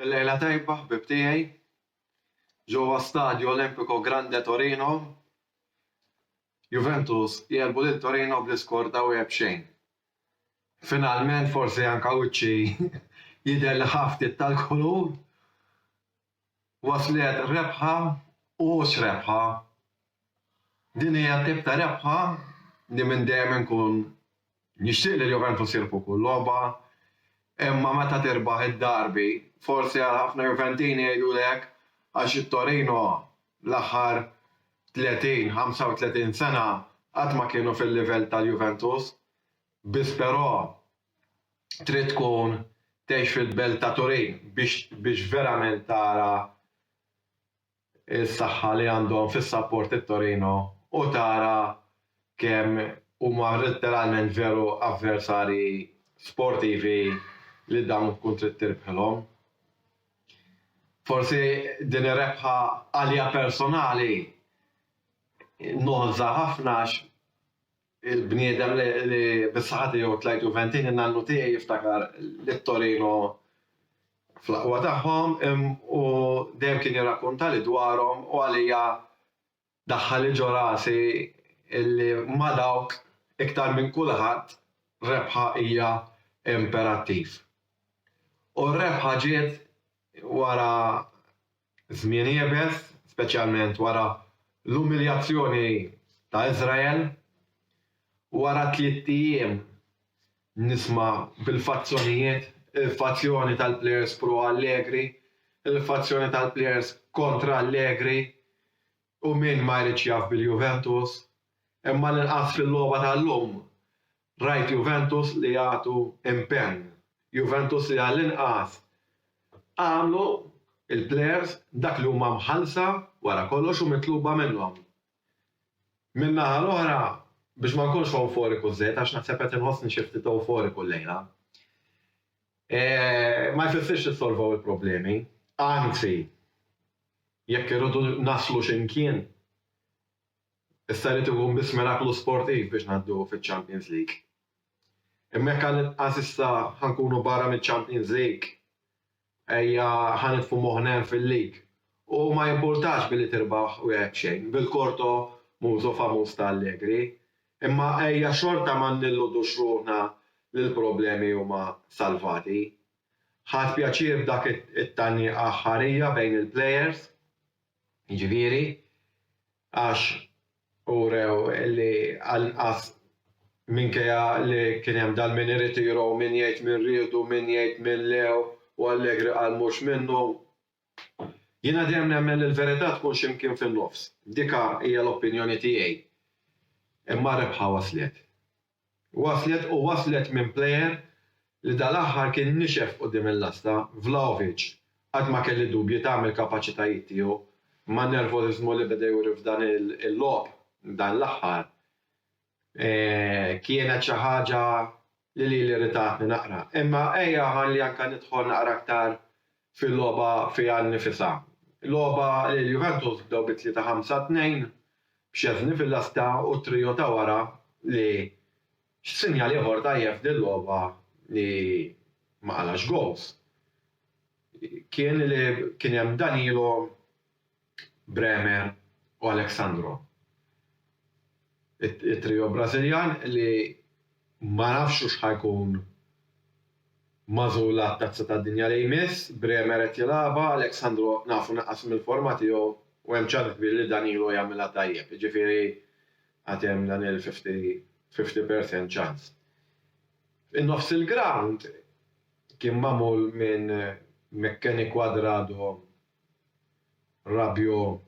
Il-lejla tajba ħbieb tiegħi ġewwa Stadio Olimpico Grande Torino, Juventus jegħlbu lil Torino bl-iskor ta' wieħed b'xejn. Finalment forsi anke wiċċi jidher li ħa ftit tal-kulur. Waslet rebħa u mhux rebħa. Din hija t-tip ta' rebħa li minn dejjem inkun nixtieq li l-Juventus jirbħu kull logħba, imma meta tirbaħ id-derby, forsi għal ħafna Juventini jgħidulek għax it-Torino l-aħħar 30, 35 sena qatt ma kienu fil-livell tal-Juventus, biss però trid tkun tgħix fil-belt ta' Turin biex biex verament tara s-saħħa li għandhom fis-sapporti t-Torino u tara kemm huma letteralment veru avversarji sportivi li dawn tkun trid tirbħilhom. Forsi din ir-rebħa għalija personali noħżha ħafna għax Il-bniedem li bis-saħħa tiegħu tlajt Juventin in-nannu tiegħi jiftakar lil Torino fl-aqwa tagħhom u dejjem kien jirrakkuntali dwarhom u għalija daħħali ġo rasi li ma' dawk iktar minn kulħadd rebħa hija imperattiv. U r-rebħa ġiet wara Żmien iebes, speċjalment wara l-umiljazzjoni ta' Iżrael. Wara tliet ijiem nisma' bil-fazzjonijiet, il-fazzjoni tal-plejers pro Allegri, il-fazzjoni tal-plejers kontra Allegri u min ma jridx jaf bil-Juventus. Imma l-inqas fil-logħba tal-lum Rajt Juventus li jagħtu impenn, Juventus li għall-inqas għamlu l-plejers dak li huma mħallsa wara kollox u mitluba minnhom. Min-naħa l-oħra, biex ma nkunx ewforiku żejjed, għax naħseb qed inħossni xi ftit ewforiku llejla, ma jfissirx li ssolvew il-problemi, anzi, jekk irridu naslu xi mkien, Issa jrid ikun biss miraklu sportiv biex ngħaddu fiċ-Champions League. Imma jekk għall-inqas issa ħa nkunu barra miċ-Champions League, ejja ħa nitfu moħħna hemm fil-League. U ma jimpurtax billi tirbaħ wieħed b'xejn, bil-korto mużo famuż ta' Allegri, imma ejja xorta ma nilludux ruħna li l-problemi huma salvati. Ħadt pjaċir b'dak it-tgħanniqa aħħarija bejn il-plejers. jiġifieri għax urew li anqas minkejja li kien hemm dan min iritiru u min jgħid min riedu u min jgħid min le u Allegri qal mhux minnu. Jiena dejjem nemmen li l-verità tkun xi mkien fin-nofs. Dika hija l-opinjoni tiegħi. Imma r-rebħa waslet. Waslet u waslet minn plejer li dal-aħħar kien nixef quddiem il-lasta, Vlahovic, qatt ma kelli dubji ta' mill-kapaċitajiet tiegħu, imma n-nervożiżmu li beda juri f'dan il-logħob dan l-aħħar kienet xi ħaġa li lili rritatni naqra. Imma ejja ħalli anke nidħol naqra aktar fil-logħba fiha nnifisha. Logħba li l-Juventus bdew bi tlieta ħamsa tnejn b'Scesni fil-lasta u t-trio ta' wara li x'sinjal ieħor dgħajjef din logħba li ma qalax goals kien li kien hemm Danilo Bremer u Alexandro. It-trio Brażiljan li ma nafx hux ħa jkun magħżul għat-Tazza tad-Dinja li jmiss, Bremer qed jilgħabha, Alexandro nafu naqqas mill-forma tiegħu u hemm ċans kbir li Danilo jagħmilha tajjeb, jiġifieri għad hemm dan il-fifty fifty percent ċans. In-nofs il-grawnd kien magħmul minn McKennie, Cuadrado Rabiot,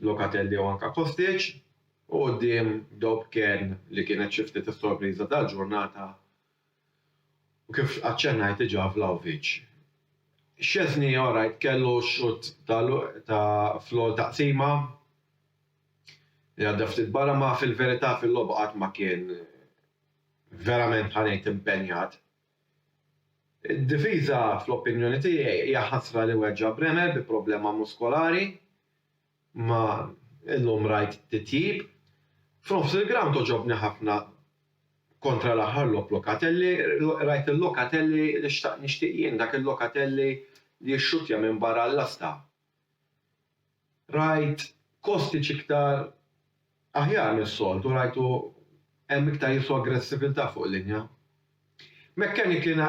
Locatelli jew anke Kostic u quddiem Dob Cairn li kienet xi ftit is-sorpriża tal-ġurnata u kif aċċennajt diġà Vlahovic. Szczesny orajt kellu xutt ta' fl-ewwel taqsima li għadda ftit barra imma fil-verità fil-logħba qatt ma kien verament ħa ngħid impenjat. Id-difiża, fl-opinjoni tiegħi, hija ħasra li weġġa' Bremer bi problema muskolari, imma illum rajt titjib. F'nofs il-grawnd għoġobni ħafna kontra l-aħħar logħob Locatelli, rajt il-Locatelli li xtaqt nixtieq jien, dak il-Locatelli li jixxuttja minn barra l-lasta. Rajt Kostic iktar aħjar mis-soltu, rajtu hemm iktar jibsu aggressiviltà fuq linja. McKennie kien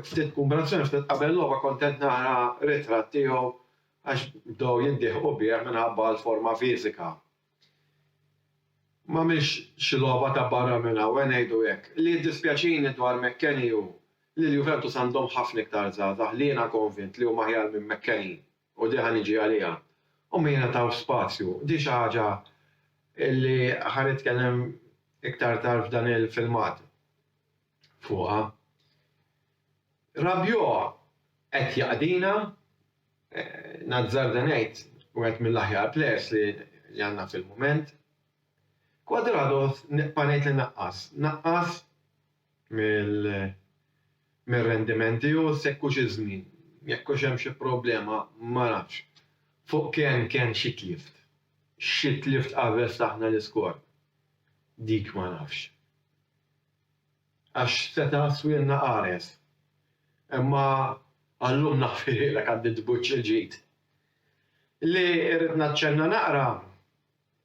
ftit kumbinazzjoni ftit qabel logħba kontent nara ritratt tiegħu għax bdew jiddieħqu bih minħabba l-forma fiżika. Ma mhix xi logħba ta' barra minn hawn, ngħidu hekk. Li jiddispjaċini dwar McKennie hu li l-Juventus għandhom ħafna iktar żgħażagħ li jiena konvint li huma aħjar minn McKennie, u din ħa niġi għaliha, u ma jingħatawx spazju. Din xi ħaġa li ħa nitkellem iktar tard f'dan il-filmat fuqha. Rabiot qed jaqdina. Nazzarda ngħid, wieħed mill-aħjar plejers li għandna fil-mument. Cuadrado nibqa' ngħid li naqqas. Naqqas mir-rendiment tiegħu se jkunx iż-żmien. Jekk hux hemm xi problema ma nafx. Fuq Kean kien xi tlift. Xi tlift qabel ftaħna l-iskor. Dik ma nafx. Għax seta' swirna qares. Imma għal-lum naħfirhielek għandi tbuġġ il-ġid. Li rrid naċċenna naqra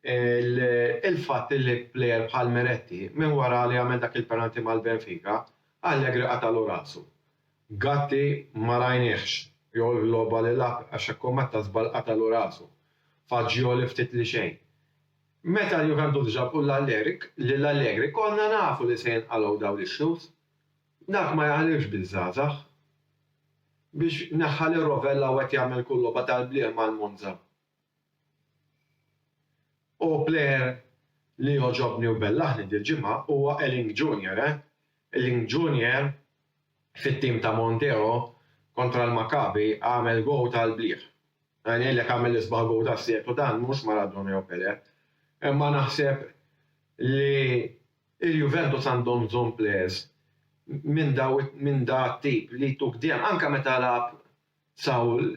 il-fatt li plejer bħal Meretti, minn wara li għamel dak il-penalti mal-Benfica, Allegri qatagħlu rasu. Gatti ma rajniehx jew il-logħba li lagħab għax hekk u meta żball qatagħlu rasu. Fagioli ftit li xejn. Meta l-Juventus ġabu l-Allegri, lil Allegri, konna nafu li se jinqalgħu dawn l-issues. Dak ma jaħlifx biż-żgħażagħ. Biex neħħa lil Rovella u qed jagħmel kull logħba tal-blieh mal-Monza. U player li jogħġobni u bellaħni dil-ġimgħa huwa Elling Junior, eh. Elling Junior fit-tim ta' Montero kontra l-Maccabi għamel goal tal-blieh. Ngħidlek għamel l-isbaħ gowl tas-seklu dan mhux Maradona jew Pelé. Imma naħseb li l-Juventus għandhom bżonn players minn daw minn da t-tip li jtuk deheb anke meta lagħab Saul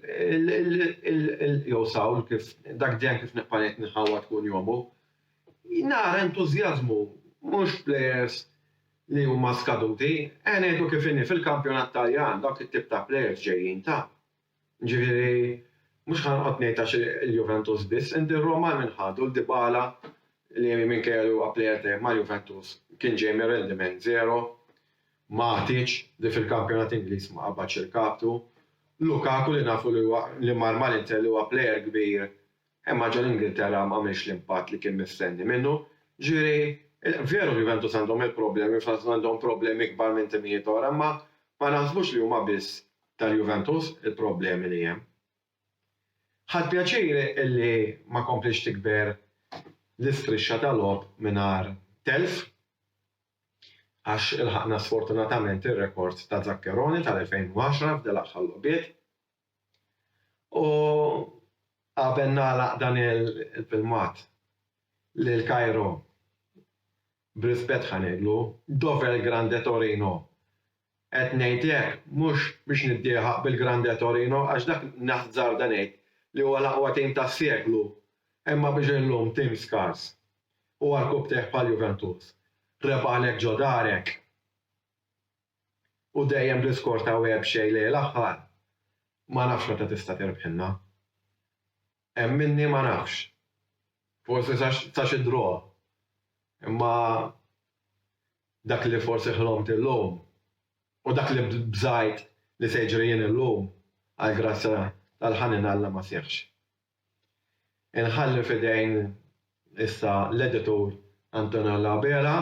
jew Saul kif dak deheb kif nibqa' ngħid nħawwad kull jom u nara entużjażmu mhux players li huma skaduti. Eħe ngħidu kif inhi fil-kampjonat Taljan dawk it-tip ta' players ġejjin ta' Jiġifieri, mhux ħa noqgħod ngħid għax il-Juventus biss, inti r-Roma minn ħadu? Dybala li minkejja li huwa plejer tajjeb mal-Juventus kien ġej minn rendiment żero, Matic li fil-kampjonat Ingliż ma qabadx irkabtu, Lukaku li nafu li huwa li mar mal-Inter li huwa plejer kbir imma ġo l-Ingilterra m'għamilx l-impatt li kien mistenni minnu. Jiġifieri, veru l-Juventus għandhom il-problemi, fl-istess ħin għandhom problemi kbar minn timijiet oħra imma ma naħsbux li huma biss tal-Juventus il-problemi li hemm. Ħadt pjaċir illi ma komplitx tikber l-istrixxa ta' logħob mingħajr telf għax ilħaqna sfortunatament ir-rekord ta' Zaccheroni tal-2010 f'dil-aħħar logħbiet. U qabel nagħlaq dan il-filmat, lil Cairo B'rispett ħa ngħidlu, dov'è l-Grande Torino? Qed ngħid hekk mhux biex niddieħaq bil-Grande Torino għax dak naħzarda ngħid li huwa l-aqwa tim tas-seklu imma biex illum tim skars u għal kubtejh bħal Juventus rebaħlek ġo darek u dejjem bl-iskor ta' webxej lejl aħħar ma nafx meta tista' tirbħilna. Hemm minni ma nafx. Forsi sa xi draw. Imma dak li forsi ħlomt illum u dak li bżajt li se jiġri jien illum, għall-grazzja tal-ħanin Alla ma seħħx. Inħalli f'idejn issa l-editur Antonio Labela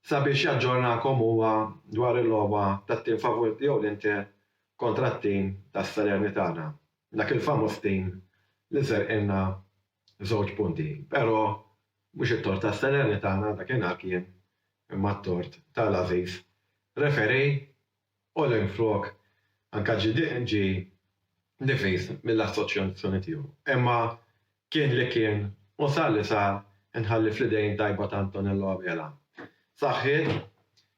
sabiex jaġġornakom huwa dwar il-logħba tat-tim favorit tiegħu l-Inter kontra t-tim tas-Salernitana. Dak il-famuż tim li serqilna żewġ punti. Però mhux it-tort tas-Salernitana dakinhar kien imma t-tort ta' l-għażiż referee u li minflok anke ġie difiż mill-assoċjazzjoni tiegħu. Imma kien li kien u sar li sar inħalli fl-idejn tajba ta' Antonello Abela. Saħħiet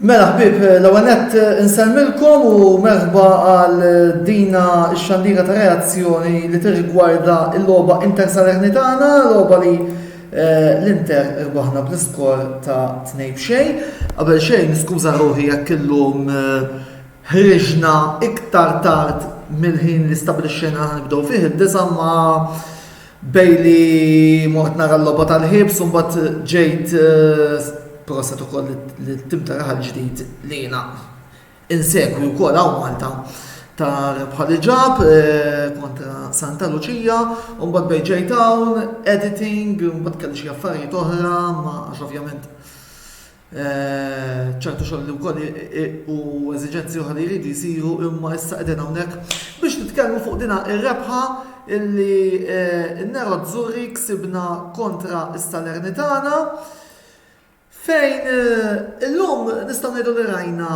Mela ħbib, l-ewwel nett insemmilkom u merħba għal dina x-xandira ta' reazzjoni li tirrigwarda l-logħba Inter Salernitana, logħba li Eh, L-Inter irbaħna bl-iskor ta' tnej b'xej. Qabel xejn, skuża ruħi jekk illum eh, ħriġna iktar tard mill-ħin li stabilixxejna ħan nibdew fih id-disa ma Bejn li mort nara l-logħba tal-ħiebs u mbagħad ġejt proset ukoll lit-tim ta' raħal ġdid li jiena insegwi wkoll hawn Malta ta' rebħa li ġab kontra Santa Luċija, u mbagħad bejn ġejt hawn, editing, u mbagħad kelli xi affarijiet oħra, ma għax ovvjament ċertu xogħol li wkoll u eżiġenzi oħra li jridu jsiru imma issa qegħdin hawnhekk biex nitkellmu fuq dina ir-rebħa illi eh, n-Nero Zurri ksibna kontra s-Salernitana fejn eh, illum nistgħu ngħidu li rajna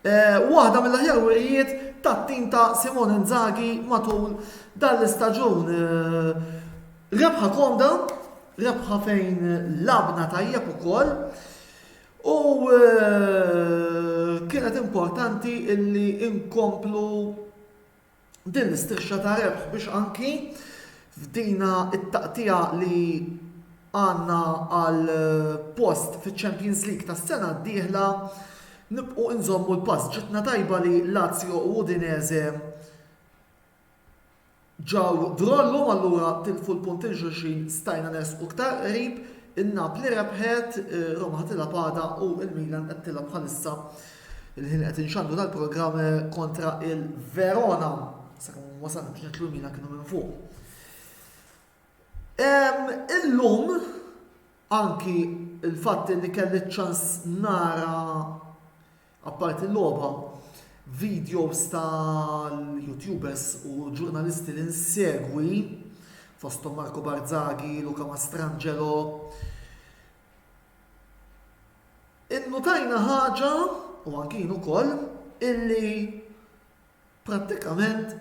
Waħda mill-aħjar wirjiet tat-tim ta' Simone Inzaghi matul dan l-istaġun. Rebħa komda, rebħa fejn labna tajjeb ukoll. U kienet importanti illi inkomplu Din l-istrixxa ta' rebħ biex anki f'dina t-taqtiegħa li għandna għal post fiċ-Champions League tas-sena d-dieħla nibqgħu inżommu l-pass. Ġitna tajba li Lazio u Udinese ġew drollhom allura tilfu l-punt il xulxin stajna nersqu iktar qrib, in-Napli rebħet, Roma ħatilha pada u l-Milan qed tilgħab bħalissa Il-ħin qed inxandru dal-programm eh, kontra il-Verona. Sakemm wasalna biex nitlu mina kienu minn fuq. Illum anki il-fatt li kelli ċans nara apparti l-logħba videos tal-youtubers u ġurnalisti li nsegwi fostom Marco Barzaghi, Luca Mastrangelo, Innutajna ħaġa, u anki jien ukoll, illi prattikament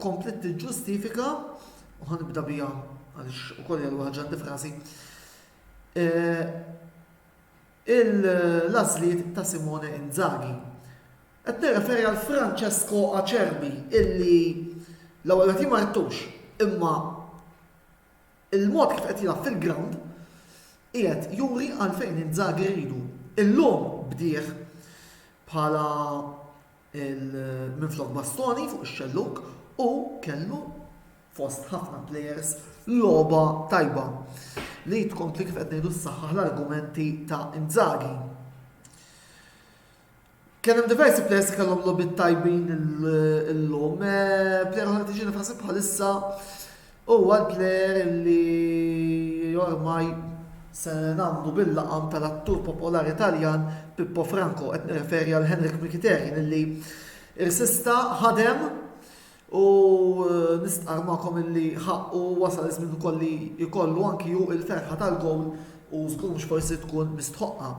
kompliet tiġġustifika, u ħa nibda biha għaliex ukoll hija l-ewwel ħaġa frażi, eh, il-għażliet ta' Simone Inzaghi. Qed nirreferi għal Francesco Acerbi illi l-ewwel nett jien ma rittux, imma Il-mod kif qed jilgħab fil-grawnd qiegħed juri għalfejn Inzaghi rridu. Illum bdieh bħala minflok Bastoni fuq ix-xellug u kellu fost ħafna plejers logħba tajba li tkompli kif qed ngħidu ssaħħaħ l-argumenti ta' Inzaghi. Kien hemm diversi players li kellhom logħbiet tajbin illum. Eh, player oħra tiġi nifasib bħalissa huwa l-player li ormaj se nagħmlu bil-laqam tal-attur popolari Taljan Pippo Franco qed nirreferi għal Henrik Mikiterin li irsista ħadem u eh, nistqar magħkom illi ħaqqu wasal iż-żmien ukoll li jkollu anki hu il-ferħa tal-gowl u żgur mhux forsi tkun mistħoqqa.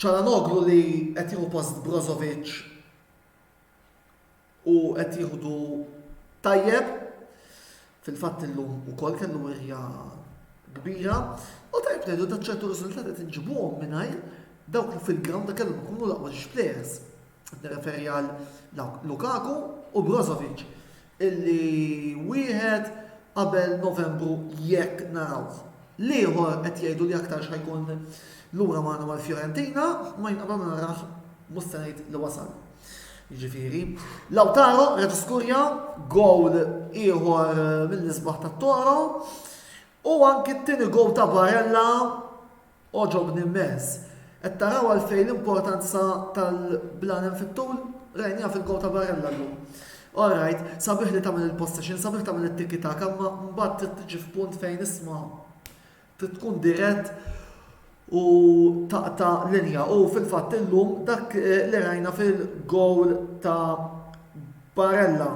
Calhanoglu li qed jieħu post Brozovic u qed jieħdu tajjeb. Fil-fatt illum ukoll kellu wirja kbira u tajjeb ngħidu ta' ċertu riżultati qed inġibuhom mingħajr dawk li fil-ground kellhom ikunu l-aqwa players. Nirreferi għal Lukaku u Brozovic illi wieħed qabel Novembru jekk narawh. L-ieħor qed jgħidu li aktar x'ħajkun lura magħna mal-Fiorentina ma jinqabel ma narah mhux se ngħid li wasal. Jiġifieri, Lautaro reġa' skurja gowl ieħor mill-isbaħ tat-Toro u anki t-tieni gowl ta' Barella Għoġobni mmens. Qed taraw għalfejn l-importanza tal-blann fit-tul? Rajniha fil-Go ta' Barella llum. All right, sabiħ li tagħmel il-possession, sabiħ tagħmel it-tiki taka, imma mbagħad trid tiġi f'punt fejn isma' trid tkun dirett u taqta' linja. U fil-fatt illum dak eh, li rajna fil-gowl ta' Barella.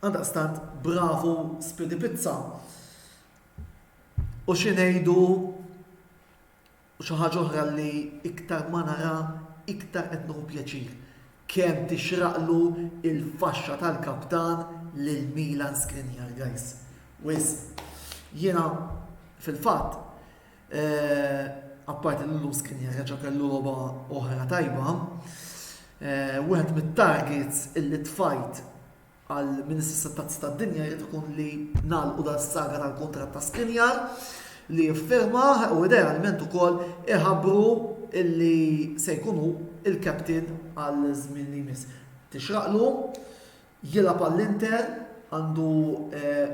Għaldaqstant bravu Speedy Pizza. U xi ngħidu u xi ħaġa oħra li iktar ma nara iktar qed nieħu pjaċir kemm tixraqlu il-faxxa tal-kaptan lil Milan Skriniar guys. Wisq. Jiena fil-fatt Apparti li Luz kien jeħreġ kellu logħba oħra tajba, wieħed mit-targets illi tfajt għal Ministri Settazzi tad-Dinja jrid ikun li nagħlqu dan saga tal-kuntratt ta' Skriniar li jiffirmah u idealment ukoll iħabbru illi se jkunu il-captain għal żmien li jmiss. Tixraqlu, jilgħab għall-Inter, għandu eh,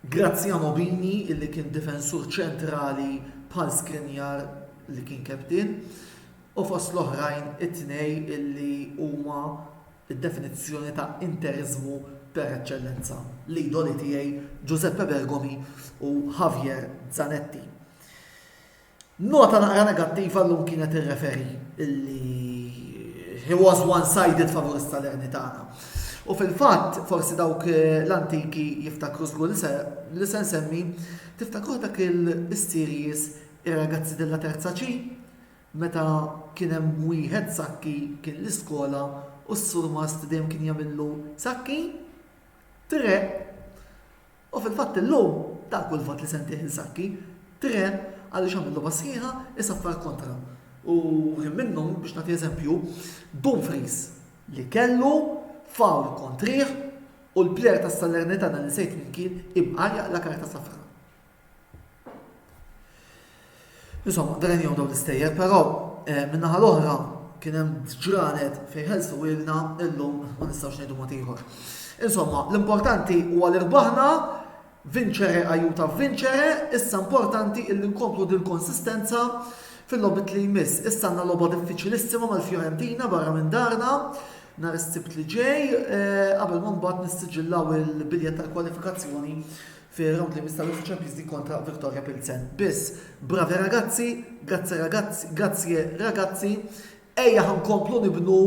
Graziano Bini illi kien difensur ċentrali bħal Skriniar li kien captain u fost l-oħrajn it-tnej illi huma d-definizzjoni ta' Interismu per eċċellenza, l-idoli tiegħi Giuseppe Bergomi u Javier Zanetti. Nota naqra negattiva llum kienet ir-referee illi he was one-sided favur is-Salernitana. U fil-fatt, forsi dawk eh, l-antiki jiftakru żgur li se nsemmi, tiftakru dak il-series ir-ragazzi della terza ċi, meta kien hemm wieħed sakki kien l-iskola u s-surmast dejjem kien jagħmillu sakki, tre U fil-fatt illum, dak hu l-vot li se ntih Inzaghi, tre għaliex għamel logħba sħiħa, isaffar kontra. U kien minnhom, biex nagħti eżempju, Dumfries li kellu foul kontrih u l-plejer tas-Salernitana li nsejt min kien, ibqa' jaqla' karta safra. Insomma, drenjaw dawn l-istejjer, però min-naħa l-oħra kien hemm ġranet fejn ħelsuhielna illum ma nistgħux ngħidu mod ieħor. Insomma, l-importanti huwa li rbaħna vinċere ajuta vinċere, issa importanti illi nkomplu din konsistenza fil-lobit li jmiss. Issa għandna logħba diffiċilissima mal-Fiorentina barra minn darna nhar is-sibt li ġej eh, qabel ma mbagħad nissiġillaw il-biljett tal-kwalifikazzjoni fir-round li jmiss tal-UEFA Champions League kontra Viktoria Pilsen. Biss, bravi ragazzi, grazzi ragazzi, grazie ragazzi, ejja ħankomplu nibnu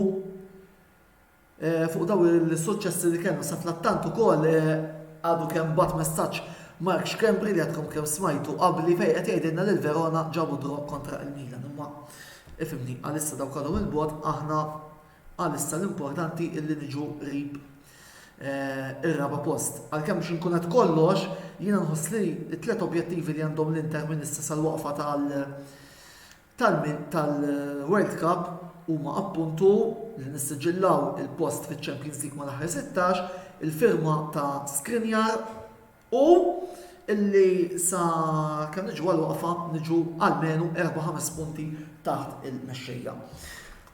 eh, fuq daw il-suċċessi li kellna sa tlattant ukoll eh, għadu kemm bat messaġġ Mark Xkembri li għadkom kemm smajtu qabli fejn qed jgħidilna lil Verona ġabu draw kontra il-Milan. Imma ifimni għalissa daw kalhom il-bot aħna Għalissa l-importanti li niġu qrib ir-raba' post. Għalkemm biex inkun qed kollox, jiena nħoss li t-tliet objettivi li għandhom l-Inter minn issa sal-waqfa tal tal-World Cup huma appuntu li nissiġillaw il-post fiċ-Champions League mal-aħħar sittax, il-firma ta' Skriniar, U illi sa kemm niġu għal waqfa niġu almenu 4-5 punti taħt il-mexxejja.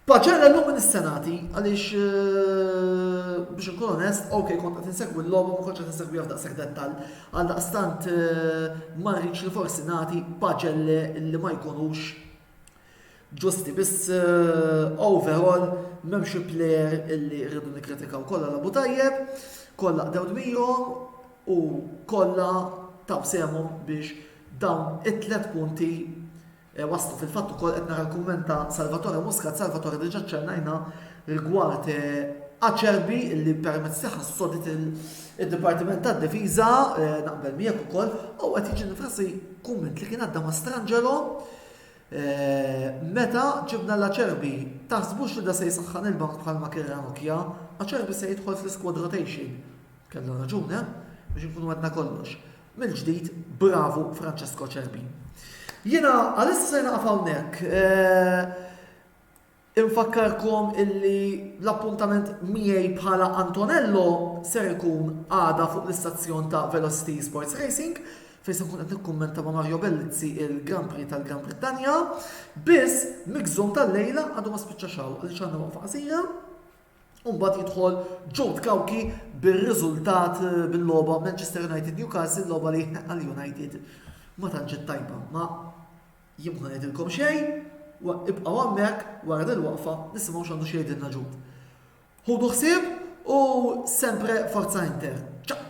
Paċer l-lum minn is-senati, għaliex eh, biex nkun onest, ok, kont qed insegwi l-logħba ma kontx qed insegwi daqshekk dettal, għal daqstant eh, ma rridx li forsi nagħti paġelle li ma jkunux ġusti biss overall m'hemm xi plejer illi rridu nikkritikaw kollha labu tajjeb, kollha qdew dmirhom u kollha taw sehemhom biex dawn it-tliet punti waslu. Fil-fatt ukoll qed nara l-kumment ta' Salvatore Muscat, Salvatore diġà ċċennajna rigward Acerbi li permezz tagħha ssodit id-Dipartiment tad-Difiża naqbel miegħek ukoll u qed jiġi nifrasi kumment li kien għadda ma' Strangelo meta ġibna l-Acerbi taħsbux li da se jsaħħan il-bank bħalma kien Ranocchia, Acerbi se jidħol fl-squad rotation. Kellu raġun, eh? Biex nkunu għedna kollox. Mill-ġdid, bravu Francesco Acerbi. Jiena għalissa naqaf hawnhekk. Infakkarkom illi l-appuntament miegħi bħala Antonello ser ikun għada fuq l-istazzjon ta' Velocity Sports Racing fejn se nkun qed nikkummenta ma' Mario Bellizzi il-Grand Prix tal-Gran Brittanja. Biss migżum tal-lejla għadu ma spiċċax hawn għaliex għandna waqfa qasira u mbagħad jidħol Jude Kawki bir-riżultat eh, bil-logħba Manchester United Newcastle logħba li għal United ma tantx tajba ma Jien m'ħa ngħidilkom xejn, ibqgħu hemmhekk wara dil-waqfa nisimgħu x'għandu x'jgħidilna Jude. Ħudu ħsieb u sempre Forza Inter! Ciao!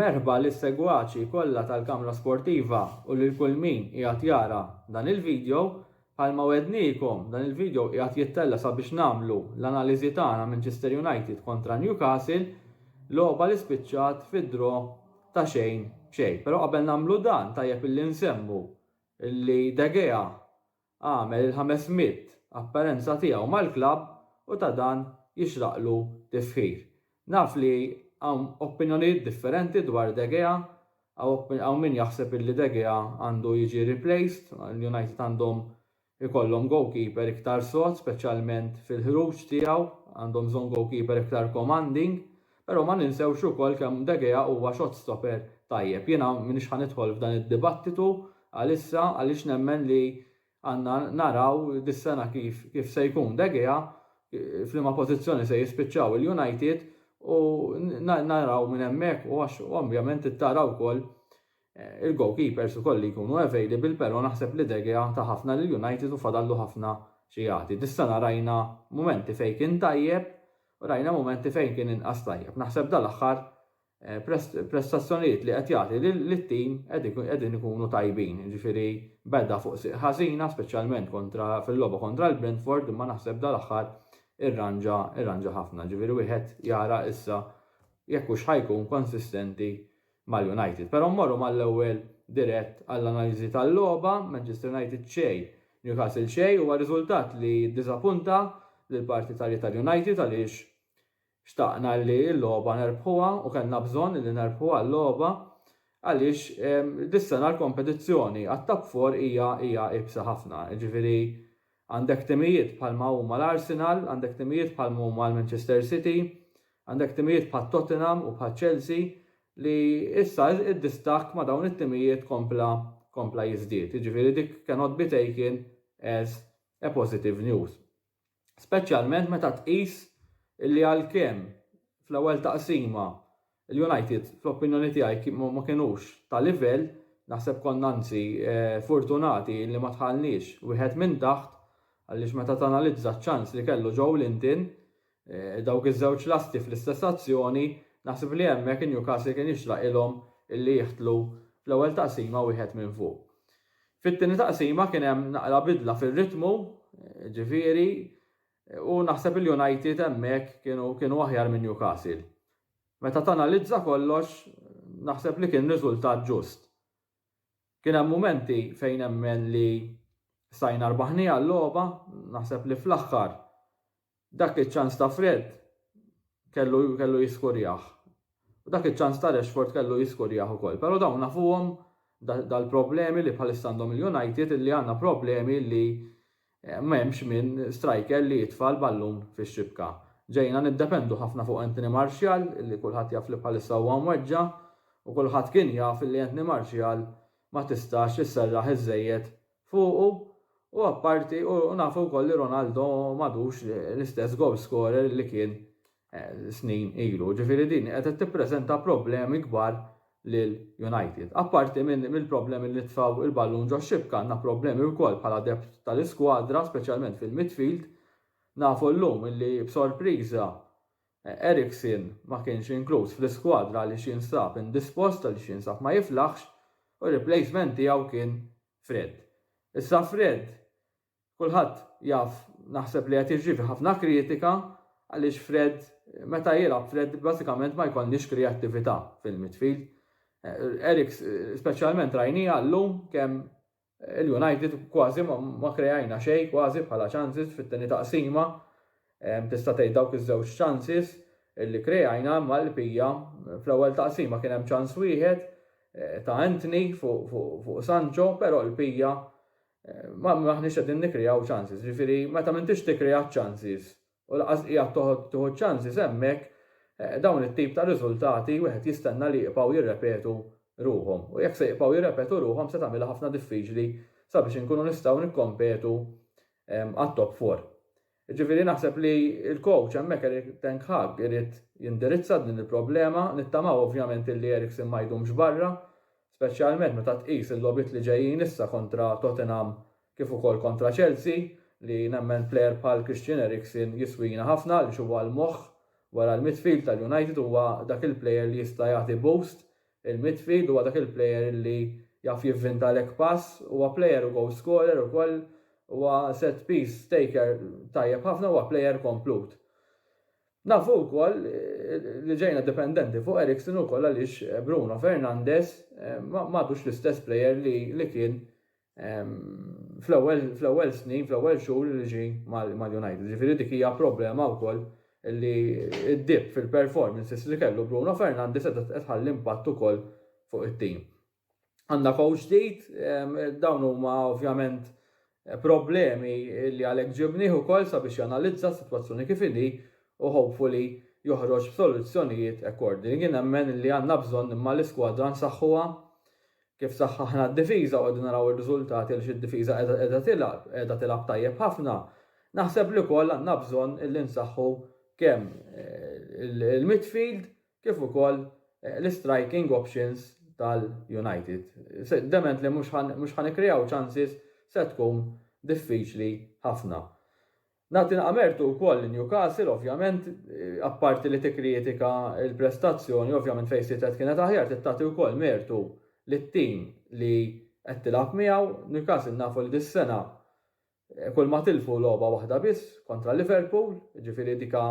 Merħba lis segwaċi kollha tal-Kamra Sportiva u lil kull min qiegħed jara dan il-video, Bħalma wegħedniekom, dan il-video qiegħed jittella' sabiex nagħmlu l-analiżi tagħna Manchester United kontra Newcastle, logħba li spiċċat fi draw ta' xejn b'xejn. Però qabel nagħmlu dan tajjeb illi nsemmu li De Gea għamel il-ħames mitt apperenza tiegħu mal-klabb u ta' dan jixraqlu tifħir. Naf li hawn opinjonijiet differenti dwar De Gea, hawn min jaħseb illi De Gea għandu jiġi replaced, l-United għandhom ikollhom goalkeeper iktar sod speċjalment fil-ħruġ tiegħu, għandhom bżonn goalkeeper iktar commanding, però ma ninsewx ukoll kemm De Gea huwa shot stopper tajjeb. Jiena m'iniex ħa nidħol f'dan id-dibattitu għalissa għaliex nemmen li Għandna naraw dis-sena kif se jkun De Gea, f'liema pożizzjoni se jispiċċaw il-United u naraw minn hemmhekk u għax ovvjament trid tara wkoll il-goalkeepers ukoll li jkunu available però naħseb li De Gea ta ħafna lill-United u fadallu ħafna xi jagħti. Dis-sena rajna mumenti fejn kien tajjeb u rajna mumenti fejn kien inqas tajjeb. Naħseb dal-aħħar prestazzjonijiet li qed jagħti lit-tim qegħdin ikunu tajbin, jiġifieri beda fuq sieq ħażina speċjalment kontra fil-logħba kontra l-Brentford imma naħseb dal-aħħar irranġa irranġa ħafna, jiġifieri wieħed jara issa jekk hux ħa jkun konsistenti mal-United. Però mmorru mal-ewwel dirett għall-analiżi tal-logħba, Manchester United xejn, Newcastle xejn, huwa riżultat li ddiżapunta lill-partitarji tal-United għaliex Xtaqna li l-logħba nerbħuha u kellna bżonn li nerbħuha l-logħba għaliex dis-sena l-kompetizzjoni għat-Top Four hija hija iebsa ħafna. Jiġifieri għandek timijiet bħalma huma l-Arsenal, għandek timijiet bħalma huma l-Manchester City, għandek timijiet bħat-Tottenham u bħaċ-Chelsea li issa d-distakk ma' dawn it-timijiet kompla kompla jiżdied. Jiġifieri dik cannot be taken as a positive news. speċjalment meta tqis li għalkemm fl-ewwel taqsima l-United fl-opinjoni tiegħi ma kinux ta' livell, naħseb konna anzi furtunati li ma dħalniex wieħed minn taħt għaliex meta tanalizza ċ-ċans li kellu Joelinton, dawk iż-żewġ lasti fl-istess azzjoni, naħseb li hemmhekk Newcastle kien jixraqilhom li jiħtlu fl-ewwel taqsima wieħed minn fuq. Fit-tieni taqsima kien hemm naqra bidla fir-ritmu, ġifieri, u naħseb il-United hemmhekk kienu kienu aħjar minn Newcastle. Meta tanalizza kollox, naħseb li kien riżultat ġust. Kien hemm mumenti fejn nemmen li stajna rbaħniha l-logħba, naħseb li fl-aħħar Dak iċ-ċans ta' Fred kellu kellu jiskurjah. U dak iċ-ċans ta' Rashford kellu jiskurjah ukoll. Però dawn nafuhom dal-problemi li bħalissa għandhom il-United illi għandna problemi li m'hemmx min striker li jitfa' l-ballun fix-xibka. Ġejna niddependu ħafna fuq Anthony Martial illi kulħadd jaf li bħalissa huwa mweġġa' u kulħadd kien jaf illi Anthony Martial ma tistax isserraħ iżżejjed fuqu u apparti u nafu wkoll li Ronaldo m'għadux l-istess goal scorer li kien snin ilu. Ġifieri din qed tippreżenta problemi kbar lil United. Apparti mill-problemi li nitfgħu il-ballun ġox-xibka għandna problemi wkoll bħala depth tal-iskwadra speċjalment fil-midfield. Nafu llum li b'sorpriża Eriksen ma kienx inkluż fl-iskwadra għaliex jinsab indispost għaliex jinsab ma jiflaħx u r-replacement tiegħu kien Fred. Issa Fred kulħadd jaf naħseb li qed jirċievi ħafna kritika għaliex Fred meta jilgħab Fred bażikament ma jkollniex kreattività fil-midfield. Eriks speċjalment rajniha llum kemm Il-United kważi ma kreajna xejn kważi bħala chances fit-tieni taqsima. Tista' tgħid dawk iż-żewġ chances li kreajna imma l-bqija fl-ewwel taqsima kien hemm chance wieħed ta' Antony fuq Sancho però l-bqija m'aħniex qegħdin nikkreaw chances. Ġifieri meta m'intix tikkrea ċ-chances u lanqas qiegħed toħod tieħu ċ-chances hemmhekk, dawn it-tip ta' riżultati wieħed jistenna li jibqgħu jirrepetu ruħhom. U jekk se jibqgħu jirrepetu ruħhom se tagħmilha ħafna diffiċli sabiex inkunu nistgħu nikkompetu għat-top four. Jiġifieri naħseb li l-coach hemmhekk Erik ten Hag irid jindirizza din il-problema, nittamaw ovvjament illi Eriksen ma jdumx barra, speċjalment meta tqis il-logħbiet li ġejjin issa kontra Tottenham kif ukoll kontra Chelsea li nemmen plejer bħal Christian Eriksen jiswina ħafna għaliex huwa l-moħħ wara l-midfield tal-United huwa dak il-plejer li jista' jagħti boost il-midfield huwa dak il-plejer li jaf jivvintalek pass huwa plejer u goal scorer ukoll huwa set piece taker tajjeb ħafna huwa plejer komplut. Nafu wkoll li ġejna dipendenti fuq Eriksen ukoll għaliex Bruno Fernandes m'għadux l-istess plejer li kien fl-ewwel snin, fl-ewwel xhur li ġie mal-United. Ġifieri dik hija problema wkoll li d-dip fil-performances li kellu Bruno Fernandes qiegħda tħalli impatt ukoll fuq it-tim. Għandna coach ġdid, dawn huma ovvjament problemi li għalhekk ġibnih ukoll sabiex janalizza s-sitwazzjoni kif inhi u hopefully joħroġ b'soluzzjonijiet according. Jien nemmen li għandna bżonn imma l-iskwadra nsaħħuha, Kif saħħaħna d-difiża u qegħdin naraw ir-riżultati għaliex id-difiża qiegħda qiegħda tilgħab, qiegħda tilgħab tajjeb ħafna, naħseb li wkoll għandna bżonn li nsaħħu kemm il-midfield kif ukoll l-istriking options tal-United. Dement li mhux ħa mhux ħa nikkreaw chances se tkun diffiċli ħafna. Nagħti naqra mertu wkoll lil Newcastle ovvjament, apparti li tikkritika l-prestazzjoni, ovvjament fejn sitet kienet aħjar, trid tagħti wkoll mertu lit-tim li qed tilgħab miegħu. Newcastle nafu li dis-sena kulma tilfu logħba waħda biss kontra Liverpool, jiġifieri dika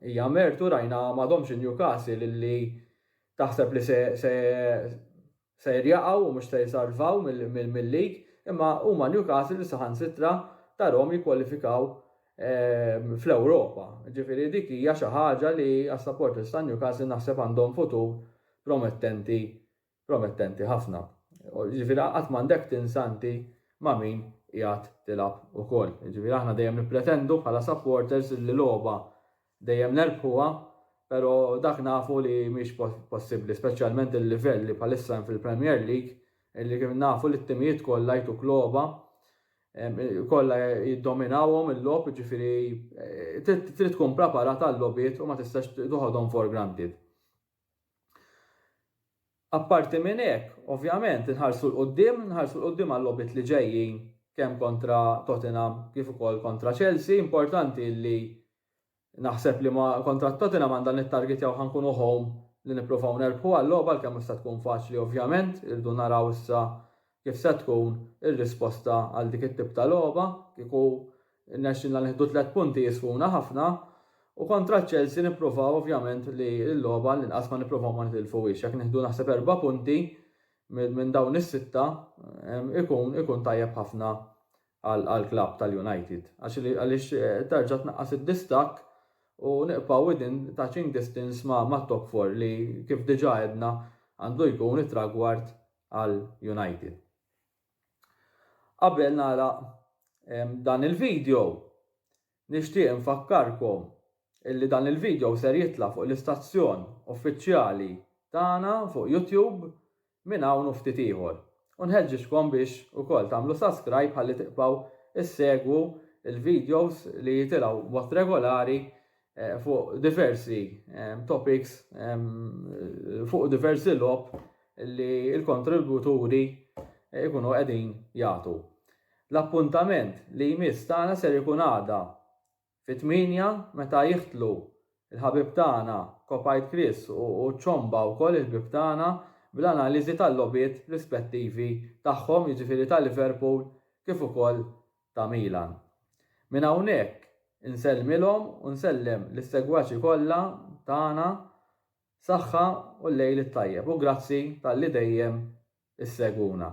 hija mertu, rajna m'għadhomx in-Newcastle li taħseb li se ser jaqgħu u mhux ser jsalvaw mil-league imma huma Newcastle li saħansitra tarhom jikkwalifikaw fl-Ewropa. Ġifieri dik hija xi ħaġa li għas-supporters ta' Newcastle naħseb għandhom futur promettenti promettenti ħafna. Ġifieri qatt m'għandek tinsa inti ma' min qiegħed tilgħab ukoll. Jiġifieri aħna dejjem nippretendu bħala supporters li logħba Dejjem nerbħuha, pero' dak nafu li mhix possibbli, speċjalment il-livell li bħalissa hemm fil-Premier League, illi nafu li t-timijiet kollha jtuk logħba, kollha jiddominawhom il-logħob, jiġifieri trid tkun preparat għal-logħbiet u ma tistax toħodhom for granted. Apparti minn hekk, ovvjament, inħarsu 'l quddiem, inħarsu 'l quddiem għal-logħbiet li ġejjin kemm kontra Tottenham kif ukoll kontra Chelsea. Importanti li naħseb li ma kontra Tottenham għandha nittargetjaw ħa nkunu home li nipprovaw nerbħuha l-logħba għalkemm mhux se tkun faċli ovvjament, irridu naraw issa Kif se tkun ir-risposta għal dik it-tip ta' logħba? Kieku rnexxilna nieħdu tliet punti jiswuna ħafna u kontra ċ-Chelsea nippruvaw ovvjament li l-logħba għall-inqas ma nippruvaw ma nitilfuhiex. Jekk nieħdu naħseb erba' punti minn dawn is-sitta ikun ikun tajjeb ħafna għall-klabb tal-United għaliex terġa' tnaqqas id-distakk u nibqgħu within touching distance mat-top four li kif diġà għedna għandu jkun it-tragward għal United. Qabel nagħlaq dan il-video, nixtieq infakkarkom illi dan il-video ser jitla' fuq l-istazzjon uffiċjali tagħna fuq YouTube minn hawn u ftit ieħor. U nħeġġiġkom biex ukoll tagħmlu subscribe ħalli tibqgħu ssegwu l-videos li jitilgħu b'mod regolari eh, fuq diversi eh, topics, fuq diversi lob li l-kontributuri ikunu qegħdin jagħtu. L-appuntament li jmiss tagħna ser ikun għada fit-8 meta jiħtlu il-ħabib tagħna Kopajt Chris u ċomba wkoll il-ħbib tagħna bl-analiżi tal-lobiet rispettivi tagħhom jiġifieri ta' Liverpool kif ukoll ta' Milan. Minn hawnhekk insellmilhom u nsellem lis-segwaċi kollha tagħna saħħa u l-lejl it-tajjeb u grazzi talli dejjem issegwuna.